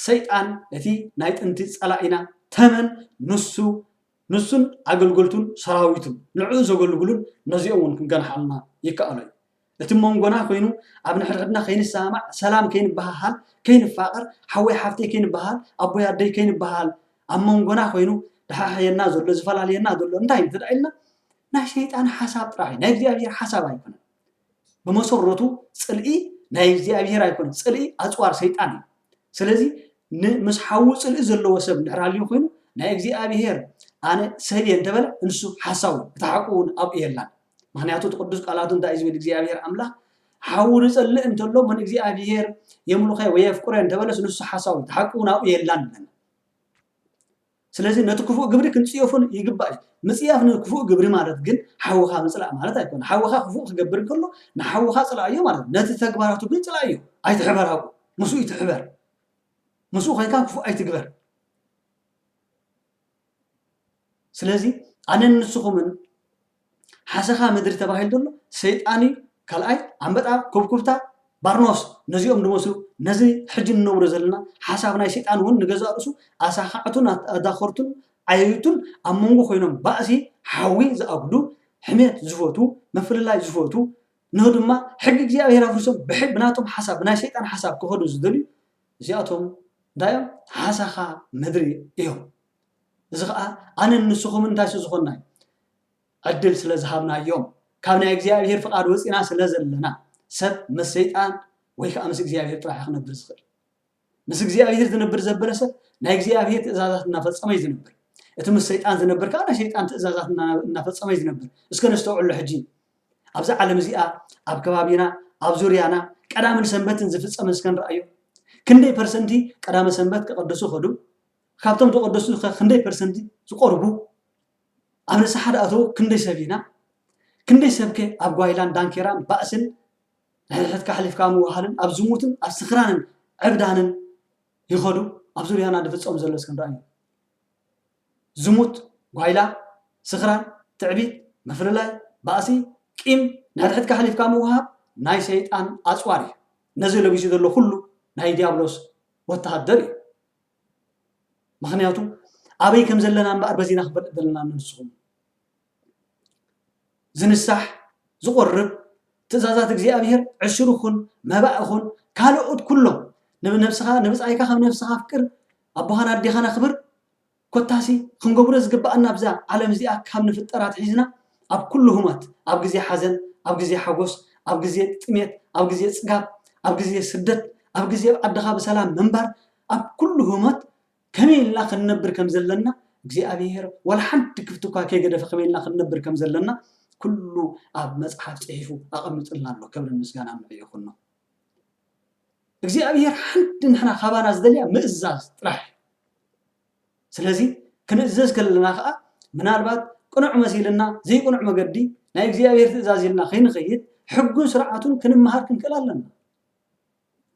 ሰይጣን ነቲ ናይ ጥንቲ ጸላኢና ተመን ንሱ ንሱን ኣገልገልቱን ሰራዊቱን ንዕኡ ዘገልግሉን ነዚኦም እውን ክንገንሓሉና ይከኣሎ እዩ። እቲ ኣብ መንጎና ኮይኑ ኣብ ንሕድሕድና ከይንሰማማዕ ሰላም ከይንበሃሃል ከይንፋቐር ሓወይ ሓፍተይ ከይንበሃል ኣቦይ ኣደይ ከይንበሃል ኣብ መንጎና ኮይኑ ድሓሕየና ዘሎ ዝፈላልየና ዘሎ እንታይ እንተ ኢልና ናይ ሰይጣን ሓሳብ ጥራሕ እዩ ናይ እግዚኣብሔር ሓሳብ ኣይኮነን ብመሰረቱ ጽልኢ ናይ እግዚኣብሔር ኣይኮነን ጽልኢ ኣጽዋር ሰይጣን እዩ ስለዚ ምስ ሓዉ ጽልኢ ዘለዎ ሰብ እንድሕር ሃልዩ ኮይኑ ናይ እግዚኣብሔር ኣነ ሰብ እየ እንተበለ እንሱ ሓሳዊ እቲ ሓቁ እውን ኣብኡ የላን ምክንያቱ እቲ ቅዱስ ቃላቱ እንታይ እዩ ዝብል እግዚኣብሔር ኣምላኽ ሓዉ ዝጸልእ እንተሎ መን እግዚኣብሔር የምልኸ ወይ የፍቅረ እንተበለስ ንሱ ሓሳዊ እቲ ሓቁ እውን ኣብኡ የላን ኣለና ስለዚ ነቲ ክፉእ ግብሪ ክንጽየፎ ይግባእ እዩ። ምጽያፍ ንክፉእ ግብሪ ማለት ግን ሓውኻ ምጽላእ ማለት ኣይኮነን። ሓውኻ ክፉእ ክገብር እንከሎ ንሓውኻ ጽላኣዮ ማለት እዩ። ነቲ ተግባራቱ ግን ጽላኣዮ። ኣይትሕበር ኣብኡ፣ ምስኡ ኣይትሕበር። ምስኡ ኮይንካ ክፉእ ኣይትግበር። ስለዚ ኣነን ንስኹምን ሓሰኻ ምድሪ ተባሂሉ ዘሎ ሰይጣን እዩ ካልኣይ ኣምበጣ ኩብኩብታ ባርኖስ ነዚኦም ድመስሉ ነዚ ሕጂ ንነብሮ ዘለና ሓሳብ ናይ ሰይጣን እውን ንገዛእ ርእሱ ኣሳኻዕቱን ኣዳኸርቱን ዓየይቱን ኣብ መንጎ ኮይኖም ባእሲ ሓዊ ዝኣብሉ ሕሜት ዝፈቱ ምፍልላይ ዝፈቱ ን ድማ ሕጊ እግዚኣብሔር ኣፍሪሶም ብሕግ ብናቶም ሓሳብ ብናይ ሰይጣን ሓሳብ ክኸዱ ዝደልዩ እዚኣቶም እንታይ እዮም ሓሳኻ ምድሪ እዮም እዚ ኸኣ ኣነን ንስኹምን እንታይ ስለ ዝኾንና እዩ? ዕድል ስለ ዝሃብናዮም፣ ካብ ናይ እግዚኣብሄር ፍቓድ ወጺእና ስለ ዘለና። ሰብ ምስ ሰይጣን ወይ ከኣ ምስ እግዚኣብሄር ጥራሕ እዩ ክነብር ዝኽእል። ምስ እግዚኣብሄር ዝነብር ዘበለ ሰብ ናይ እግዚኣብሄር ትእዛዛት እናፈጸመ እዩ ዝነብር። እቲ ምስ ሰይጣን ዝነብር ከኣ ናይ ሰይጣን ትእዛዛት እና እናፈጸመ እዩ ዝነብር። እስከ ነስተውዕሎ ሕጂ ኣብዛ ዓለም እዚኣ ኣብ ከባቢና ኣብ ዙርያና ቀዳምን ሰንበትን ዝፍጸም እስከ ንርኣዮ። ክንደይ ፐርሰንቲ ቀዳመ ሰንበት ከቐድሱ ከዱ? ካብቶም ተቀደሱ ከ ክንደይ ፐርሰንቲ ዝቀርቡ ኣብ ንስሓ ድኣተዉ ክንደይ ሰብ ኢና? ክንደይ ሰብ ከ ኣብ ጓይላን ዳንኬራን ባእስን ንሕድሕድካ ኣሕሊፍካ ምውሃልን ኣብ ዝሙትን ኣብ ስኽራንን ዕብዳንን ይኸዱ ኣብ ዙርያና ድፍጸም ዘሎ እስከ ንርኣዮ ዝሙት ጓይላ ስኽራን ትዕቢት ምፍልላይ ባእሲ ቂም ንሕድሕድካ ኣሕሊፍካ ምውሃብ ናይ ሰይጣን ኣጽዋር እዩ ነዚ ለቢሱ ዘሎ ኩሉ ናይ ዲያብሎስ ወተሃደር እዩ ምክንያቱ ኣበይ ከም ዘለና እምበኣር በዚና ክንፈልጥ ዘለና ንስኹም ዝንሳሕ ዝቆርብ ትእዛዛት እግዚኣብሔር ዕሱር ይኹን መባእ ይኹን ካልኦት ኩሎም ንነብስኻ ንብፃይካ ከም ነብስኻ ኣፍቅር ኣቦኻን ኣዴኻን ኣኽብር ኮታሲ ክንገብሮ ዝግባኣና ኣብዛ ዓለም እዚኣ ካብ ንፍጠር ኣትሒዝና ኣብ ኩሉ ህሞት ኣብ ግዜ ሓዘን ኣብ ግዜ ሓጎስ ኣብ ግዜ ጥሜት ኣብ ግዜ ፅጋብ ኣብ ግዜ ስደት ኣብ ግዜ ኣብ ዓድኻ ብሰላም ምንባር ኣብ ኩሉ ህሞት ከመይ ኢልና ክንነብር ከም ዘለና እግዚኣብሄር ዋላ ሓንቲ ክፍቲ እኳ ከይገደፈ ከመይ ኢልና ክንነብር ከም ዘለና ኩሉ ኣብ መጽሓፍ ጽሒፉ ኣቐሚጡልና ኣሎ ክብርን ምስጋናን ንዕኡ ይኹኖ እግዚኣብሄር ሓንቲ ንሕና ካባና ዝደልያ ምእዛዝ ጥራሕ እዩ ስለዚ ክንእዘዝ ከለና ከዓ ምናልባት ቅኑዕ መሲልና ዘይቅኑዕ መገዲ ናይ እግዚኣብሄር ትእዛዝ ኢልና ከይንኸይድ ሕጉን ስርዓቱን ክንመሃር ክንክእል ኣለና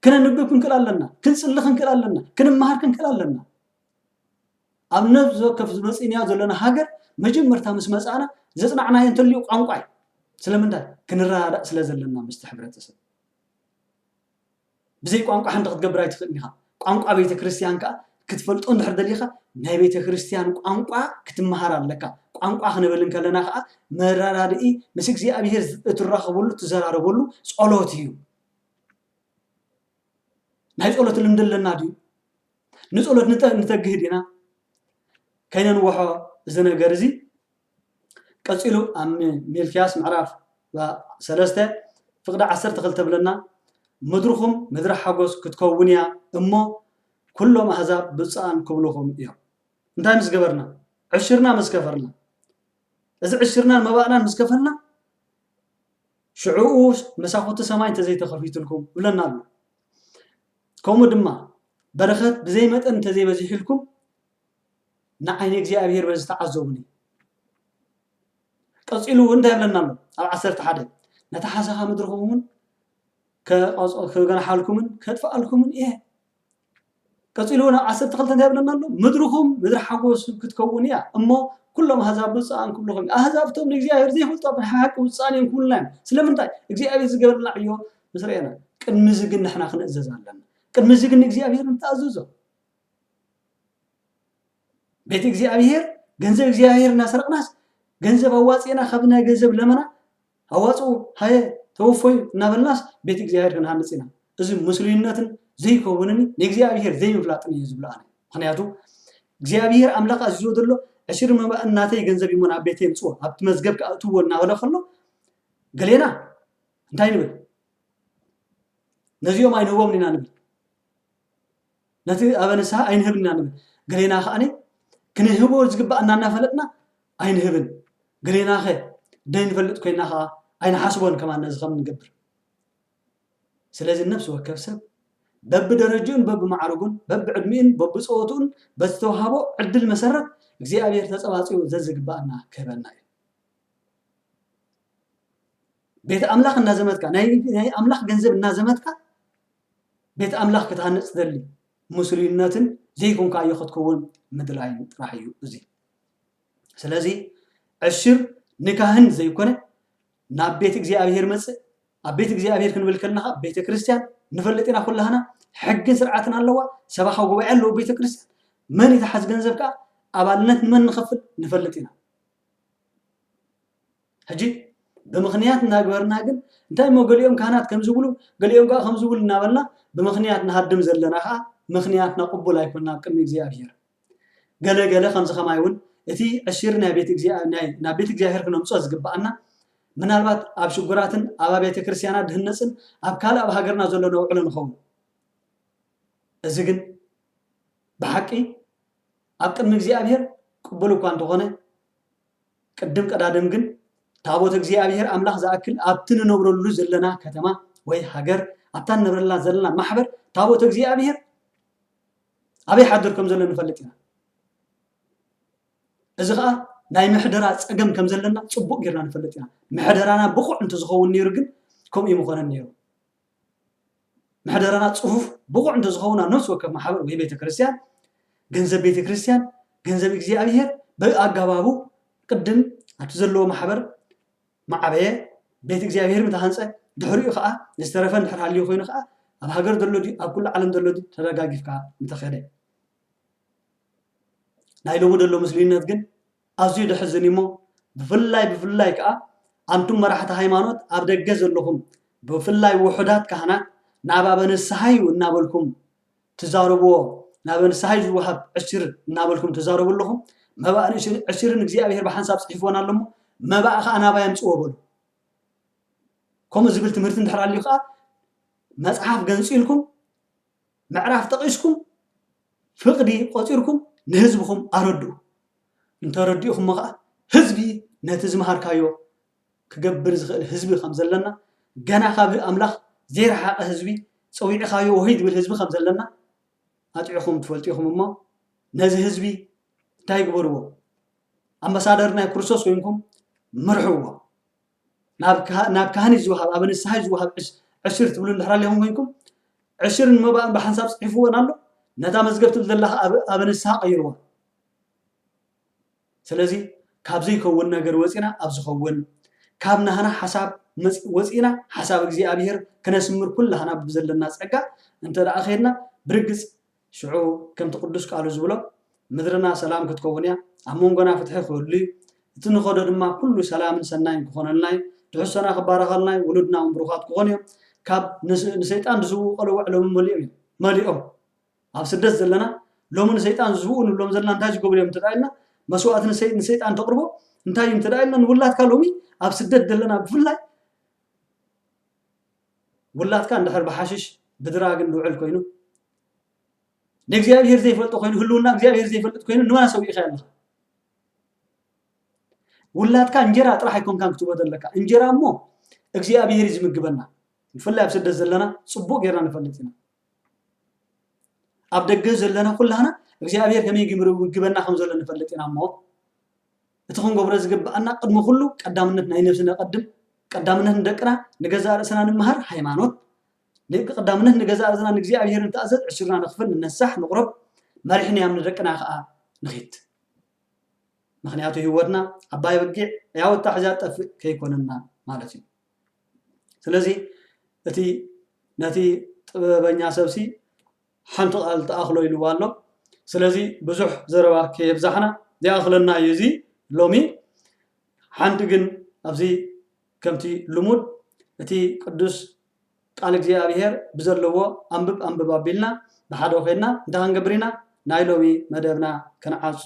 ክነንብብ ክንክእል ኣለና፣ ክንጽሊ ክንክእል ኣለና፣ ክንመሃር ክንክእል ኣለና። ኣብ ነፍሲ ወከፍ ዝመጽእናዮ ዘለና ሃገር መጀመርታ ምስ መጻእና ዘጽናዕናዮ እንተልዩ ቋንቋ እዩ። ስለምንታይ? ክንረዳዳእ ስለ ዘለና ምስቲ ሕብረተሰብ። ብዘይ ቋንቋ ሓንቲ ክትገብር ኣይትኽእልን ኢኻ። ቋንቋ ቤተ ክርስቲያን ከዓ ክትፈልጦ እንድሕር ደሊኻ ናይ ቤተ ክርስቲያን ቋንቋ ክትመሃር ኣለካ። ቋንቋ ክንብል እንከለና ከዓ መረዳድኢ ምስ እግዚኣብሔር እትራኸበሉ እትዘራረበሉ ጸሎት እዩ። ናይ ጸሎት ልምዲ ኣለና ድዩ? ንጸሎት ንተግህ ዲና? ከይነንውሖ እዚ ነገር እዚ ቀጺሉ ኣብ ሚልክያስ ምዕራፍ ሰለስተ ፍቕዲ ዓሰርተ ክልተ ብለና ምድርኹም ምድሪ ሓጎስ ክትከውን እያ እሞ ኩሎም ኣህዛብ ብፁዓን ክብልኹም እዮም እንታይ ምስ ገበርና ዕሽርና ምስ ከፈርና እዚ ዕሽርናን መባእናን ምስ ከፈልና ሽዕኡ መሳኹቲ ሰማይ እንተ ዘይተኸፊቱልኩም ይብለና ኣሎ። ከምኡ ድማ በረኸት ብዘይ መጠን እንተ ዘይበዚሑልኩም ንዓይኒ እግዚኣብሔር በዚ ተዓዘቡኒ። ቀጺሉ እውን እንታይ ይብለና ኣሎ ኣብ ዓሰርተ ሓደ ነታ ሓሰኻ ምድርኹም እውን ክገናሓልኩምን ከጥፍኣልኩምን እየ ቀጺሉ ውን ዓሰርተ ክልተ እንታይ ይብለና ኣሎ ምድርኹም ምድሪ ሓጎስ ክትከውን እያ እሞ ኩሎም ኣህዛብ ብፁዓን ክብልኹም እዩ ኣህዛብ እቶም ንእግዚኣብሔር ዘይፈልጡ ኣብ ሓቂ ብፁዓን እዮም ክብሉና እዮም ስለምንታይ እግዚኣብሔር ዝገበረልና ዕዮ ምስ ረኤና ቅድሚ እዚ ግን ንሕና ክንእዘዝ ኣለና ቅድሚ እዚ ግን ንእግዚኣብሔር ንተኣዘዞ ቤት እግዚኣብሔር ገንዘብ እግዚኣብሔር እናሰረቕናስ ገንዘብ ኣዋፂእና ካብ ናይ ገንዘብ ለመና ኣዋጽኡ ሃየ ተወፈዩ እናበልናስ ቤት እግዚኣብሔር ክንሃንጽ ኢና እዚ ምስሉይነትን ዘይከውንን ንእግዚኣብሔር ዘይምፍላጥን እዩ ዝብሎ ኣነ ምክንያቱ እግዚኣብሔር ኣምላክ ኣዚዝዎ ዘሎ ዕሽር መባእን ናተይ ገንዘብ እዩሞ ናብ ቤተይ ምፅዎ ኣብቲ መዝገብ ክኣእትዎ እናበለ ከሎ ገሌና እንታይ ንብል ነዚኦም ኣይንህቦም ኢና ንብል ነቲ ኣበ ንስሃ ኣይንህብን ኢና ንብል፣ ገሌና ከኣ ክንህቦ ዝግበኣና እናፈለጥና ኣይንህብን፣ ገሌናኸ ደይንፈልጥ ኮይንና ከኣ ኣይንሓስቦን ከማን ነዚ ከም እንገብር። ስለዚ ነፍሲ ወከፍ ሰብ በብደረጅኡን በብማዕርጉን በብዕድሚኡን በብጸወትኡን በቲ ዝተውሃቦ ዕድል መሰረት እግዚኣብሔር ተጸባጺቡ ዘዝግበኣና ክህበና እዩ። ቤት ኣምላኽ እናዘመትካ ናይ ኣምላኽ ገንዘብ እናዘመትካ ቤት ኣምላኽ ክትሃንጽ ትደሊ ምስሉይነትን ዘይኮንካዮ ክትከውን ምድላይን ጥራሕ እዩ እዚ ስለዚ ዕሽር ንካህን ዘይኮነ ናብ ቤት እግዚኣብሔር መጽእ ኣብ ቤት እግዚኣብሔር ክንብል ከለኻ ቤተ ክርስቲያን ንፈልጥ ኢና ኩላህና ሕግን ስርዓትን ኣለዋ ሰባኻ ጉባኤ ኣለዎ ቤተ ክርስቲያን መን ይትሓዝ ገንዘብ ከዓ ኣባልነት ንመን ንኸፍል ንፈልጥ ኢና ሕጂ ብምኽንያት እናግበርና ግን እንታይ እሞ ገሊኦም ካህናት ከምዚ ይብሉ ገሊኦም ከኣ ከምዚ ይብሉ እናበልና ብምኽንያት ንሃድም ዘለና ከኣ ምኽንያትና ቅቡል ኣይኮና ኣብ ቅድሚ እግዚኣብሄር ገለ ገለ ከምዚ ከማይ እውን እቲ ዕሽር ናይ ቤት ናይ ናብ ቤት እግዚኣብሄር ክነምጾ ዝግብኣና ምናልባት ኣብ ሽጉራትን ኣብ ኣብያተ ክርስትያናት ድህነፅን ኣብ ካልእ ኣብ ሃገርና ዘሎ ነውዕሎ ንኸውን እዚ ግን ብሓቂ ኣብ ቅድሚ እግዚኣብሄር ቅቡል እኳ እንተኾነ ቅድም ቀዳድም ግን ታቦት እግዚኣብሔር ኣምላኽ ዝኣክል ኣብቲ ንነብረሉ ዘለና ከተማ ወይ ሃገር ኣብታ ንነብረላ ዘለና ማሕበር ታቦት እግዚኣብሔር ኣበይ ሓድር ከም ዘሎ ንፈልጥ ኢና እዚ ከዓ ናይ ምሕደራ ፀገም ከም ዘለና ፅቡቅ ጌርና ንፈልጥ ኢና ምሕደራና ብቑዕ እንትዝኸውን ነይሩ ግን ከምኡ ይምኾነን ነይሩ ምሕደራና ጽፉፍ ብቑዕ እንተ ዝኸውን ኣብ ነፍሲ ወከፍ ማሕበር ወይ ቤተ ክርስቲያን ገንዘብ ቤተ ክርስቲያን ገንዘብ እግዚኣብሔር ብኣገባቡ ቅድም ኣብቲ ዘለዎ ማሕበር ማዕበየ ቤት እግዚኣብሔር ምተሃንጸ ድሕሪኡ ከዓ ዝተረፈ እንድሕር ሃልዩ ኮይኑ ከዓ ኣብ ሃገር ዘሎ ድዩ ኣብ ኩሉ ዓለም ዘሎ ድዩ ተደጋጊፍካ ምተኸደ ናይ ሎሚ ደሎ ምስልዩነት ግን ኣዝዩ ደሕዝን እዩ እሞ ብፍላይ ብፍላይ ከኣ ኣንቱም መራሕቲ ሃይማኖት ኣብ ደገ ዘለኹም ብፍላይ ውሑዳት ካህናት ናብ ኣበ ንስሃዩ እናበልኩም ትዛረብዎ ናበ ንስሃዩ ዝወሃብ ዕሲር እናበልኩም ትዛረቡ ኣለኹም መባእ ንእሽር ዕሲርን እግዚኣብሔር ብሓንሳብ ጽሒፍዎን ኣሎ እሞ መባእ ከኣ ናባይ ኣምጽዎ በሉ ከምኡ ዝብል ትምህርቲ እንድሕር ኣልዩ ከኣ መጽሓፍ ገንጺልኩም ምዕራፍ ጠቒስኩም ፍቕዲ ቆጺርኩም ንህዝብኹም ኣረድኡ። እንተረዲእኹሞ ከኣ ህዝቢ ነቲ ዝመሃርካዮ ክገብር ዝኽእል ህዝቢ ከም ዘለና ገና ካብ ኣምላኽ ዘይረሓቐ ህዝቢ ጸዊዕኻዮ ወህይ ዝብል ህዝቢ ከም ዘለና ኣጥዕኹም ትፈልጡ ኢኹም እሞ ነዚ ህዝቢ እንታይ ግበርዎ ኣምባሳደር ናይ ክርስቶስ ኮይንኩም ምርሕዎ። ናብ ካህን እዩ ዝወሃብ፣ ኣብ ንስሓ እዩ ዝወሃብ፣ ዕሽር ትብሉ እንድሕር ኣሊኹም ኮይንኩም፣ ዕሽርን መባእን ብሓንሳብ ጽሒፍወን ኣሎ፣ ነታ መዝገብ ትብል ዘላ ከኣ ኣብ ንስሓ ቀይርዋ። ስለዚ ካብ ዘይከውን ነገር ወጺና ኣብ ዝኸውን ካብ ናህና ሓሳብ ወጺና ሓሳብ እግዚኣብሔር ክነስምር ኩላህና ብዘለና ጸጋ እንተ ደኣ ከድና ብርግጽ ሽዑ ከምቲ ቅዱስ ቃሉ ዝብሎ ምድርና ሰላም ክትከውን እያ፣ ኣብ መንጎና ፍትሒ ክህሉ እዩ፣ እቲ እንኸዶ ድማ ኩሉ ሰላምን ሰናይን ክኾነልና እዩ፣ ትሕዝቶና ክባረኸልና እዩ፣ ውሉድና እውን ብሩኻት ክኾኑ እዮም፣ ካብ ንሰይጣን ዝስውኡ ቀልውዕ ሎሚ መሊኦም እዮም። መሊኦም። ኣብ ስደት ዘለና ሎሚ ንሰይጣን ዝስውኡ ንብሎም ዘለና እንታይ ዝገብሩ እዮም እንተድኣ ኢልና መስዋእቲ ንሰይ- ንሰይጣን ተቕርቦ እንታይ እዩ እንተድኣ ኢልና ንውላድካ ሎሚ ኣብ ስደት ዘለና ብፍላይ ውላድካ እንድሕር ብሓሽሽ ብድራግ እንድውዕል ኮይኑ ንእግዚኣብሔር ዘይፈልጦ ኮይኑ ህልውና እግዚኣብሔር ዘይፈልጥ ኮይኑ ንመን ኣሰዊእኻ ኣለኻ ውላድካ እንጀራ ጥራሕ ኣይኮንካን ክትቦ ዘለካ እንጀራ እሞ እግዚኣብሔር እዩ ዝምግበና ብፍላይ ኣብ ስደት ዘለና ፅቡቅ ጌርና ንፈልጥ ኢና ኣብ ደገ ዘለና ኩላና እግዚኣብሔር ከመይ ምግበና ከም ዘሎ ንፈልጥ ኢና እሞ እቲ ክንገብሮ ዝግበኣና ቅድሚ ኩሉ ቀዳምነት ናይ ነብሲ ነቀድም ቀዳምነት ንደቅና ንገዛእ ርእስና ንመሃር ሃይማኖት ቀዳምነት ንገዛእ ርእስና ንእግዚኣብሔር ንተኣዘዝ ዕሱርና ንኽፍል ንነሳሕ ንቁረብ መሪሕ ንያም ንደቅና ከዓ ንኺድ ምክንያቱ ህይወትና ዓባይ በጊዕ ያው ኣታሕዛ ጠፍእ ከይኮነና ማለት እዩ ስለዚ እቲ ነቲ ጥበበኛ ሰብሲ ሓንቲ ቃል ትኣኽሎ ኢልዋ ኣሎ ስለዚ ብዙሕ ዘረባ ከየብዛሕና ይኣኽለና እዩ እዚ ሎሚ ሓንቲ ግን ኣብዚ ከምቲ ልሙድ እቲ ቅዱስ ቃል እግዚኣብሔር ብዘለዎ ኣንብብ ኣንብብ ኣቢልና ብሓደ ኮይንና እንታይ ክንገብር ኢና ናይ ሎሚ መደብና ክንዓጹ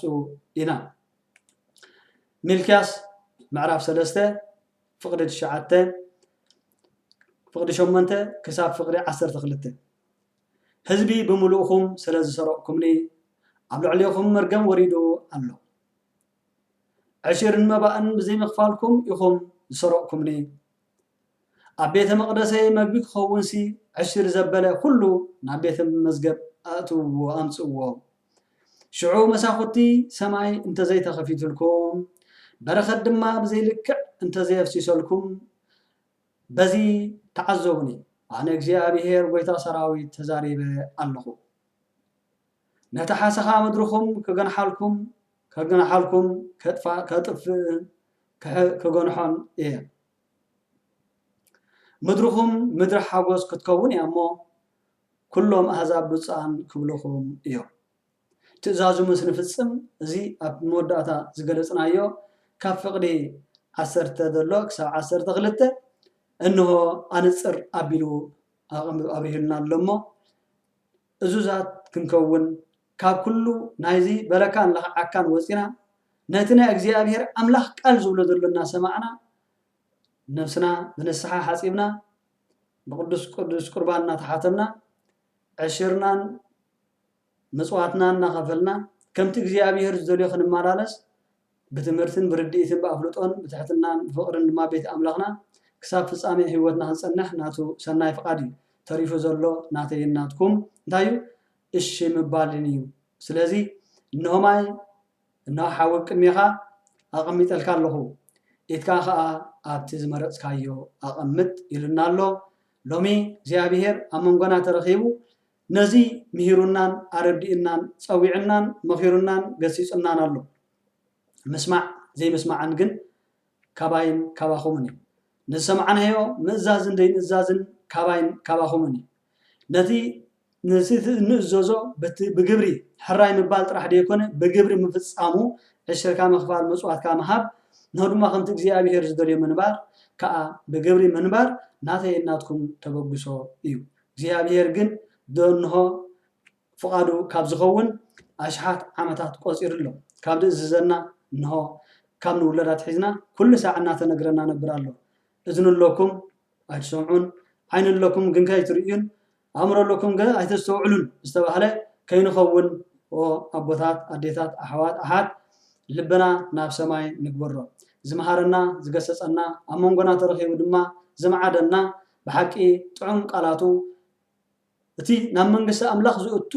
ኢና ሚልክያስ ምዕራፍ ሰለስተ ፍቅዲ ትሽዓተ ፍቅዲ ሸሞንተ ክሳብ ፍቅዲ ዓሰርተ ክልተ ህዝቢ ብምሉእኹም ስለ ዝሰረቕኩምኒ ኣብ ልዕሌኹም መርገም ወሪዱ ኣሎ። ዕሽርን መባእን ብዘይምኽፋልኩም ኢኹም ዝሰረቕኩምኒ። ኣብ ቤተ መቕደሰይ መግቢ ክኸውንሲ ዕሽር ዘበለ ዅሉ ናብ ቤተ መዝገብ ኣእትውዎ፣ ኣምጽእዎ። ሽዑ መሳዅቲ ሰማይ እንተ ዘይተኸፊቱልኩም፣ በረኸት ድማ ብዘይ ልክዕ እንተ ዘየፍሲሰልኩም፣ በዚ ተዓዘቡኒ ኣነ እግዚኣብሄር ጐይታ ሰራዊት ተዛሪበ ኣለኹ። ነቲ ሓሰኻ ምድርኹም ክገንሓልኩም ከግንሓልኩም ከጥፍእን ክገንሖን እየ። ምድርኹም ምድሪ ሓጐስ ክትከውን እያ እሞ፣ ኵሎም ኣህዛብ ብፁዓን ክብልኹም እዮም። ትእዛዙ ምስ ንፍጽም፣ እዚ ኣብ መወዳእታ ዝገለጽናዮ ካብ ፍቕዲ ዓሰርተ ዘሎ ክሳብ ዓሰርተ ክልተ እንሆ ኣንጽር ኣቢሉ ኣብሪሁልና ኣሎ እሞ፣ እዙዛት ክንከውን ካብ ኩሉ ናይዚ በለካን ለኽዓካን ወጺና ነቲ ናይ እግዚኣብሔር ኣምላኽ ቃል ዝብሎ ዘሎ እናሰማዕና ነብስና ብንስሓ ሓጺብና ብቅዱስ ቅዱስ ቁርባን እናተሓተምና ዕሽርናን መሥዋዕትና እናኸፈልና ከምቲ እግዚኣብሔር ዝደልዮ ክንመላለስ ብትምህርትን ብርድኢትን ብኣፍልጦን ብትሕትናን ብፍቕርን ድማ ቤት ኣምላኽና ክሳብ ፍጻሜ ሕይወትና ክንጸንሕ ናቱ ሠናይ ፍቓድ እዩ። ተሪፉ ዘሎ ናተይን ናትኩም እንታይ እዩ? እሺ ምባልን እዩ። ስለዚ እንሆ ማይ እንሆ ሓዊ ኣብ ቅድሜኻ ኣቐሚጠልካ ኣለኹ ኢድካ ከኣ ኣብቲ ዝመረጽካዮ ኣቐምጥ ኢሉና ኣሎ። ሎሚ እግዚኣብሔር ኣብ መንጎና ተረኺቡ ነዚ ምሂሩናን ኣረዲኡናን ጸዊዑናን መኺሩናን ገሲጹናን ኣሎ። ምስማዕ ዘይምስማዕን ግን ካባይን ካባኹምን እዩ። ንዝሰማዕናዮ ምእዛዝን ዘይምእዛዝን ካባይን ካባኹምን እዩ። ነቲ ነቲ እንእዘዞ በቲ ብግብሪ ሕራይ ምባል ጥራሕ ደይኮነ ብግብሪ ምፍጻሙ ዕሽርካ ምኽፋል መጽዋትካ ምሃብ ን ድማ ከምቲ እግዚኣብሄር ዝደልዮ ምንባር ከኣ ብግብሪ ምንባር ናተይን ናትኩም ተበግሶ እዩ። እግዚኣብሄር ግን ደንሆ ፍቓዱ ካብ ዚኸውን ኣሽሓት ዓመታት ቈጺሩ ኣሎ። ካብ ዚእዝዘና፣ እንሆ፣ ካብ ንውለድ ኣትሒዝና ኵሉ ሳዕ እናተነግረና ነብር ኣሎ። እዝኒ ኣሎኩም፣ ኣይትሰምዑን፣ ዓይኒ ኣሎኩም ግንከ ኣይትርእዩን፣ ኣእምሮ ኣሎኩም ገ ኣይተስተውዕሉን ዝተባህለ ከይንኸውን ኦ ኣቦታት፣ ኣዴታት፣ ኣሕዋት፣ ኣሓት፣ ልብና ናብ ሰማይ ንግበሮ። ዚመሃረና፣ ዚገሰጸና፣ ኣብ መንጎና ተረኺቡ ድማ ዚምዓደና ብሓቂ ጥዑም ቃላቱ እቲ ናብ መንግስቲ ኣምላኽ ዝእቱ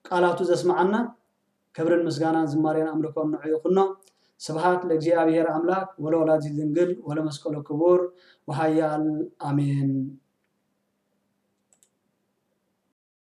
ቃላቱ ዘስመዓና ክብርን ምስጋናን ዝማሬን ኣምልኮን ንዑ ይኹኖ ስብሃት ለእግዚኣብሔር ኣምላክ ወለወላዲት ድንግል ወለመስቀሉ ክቡር ወሃያል ኣሜን።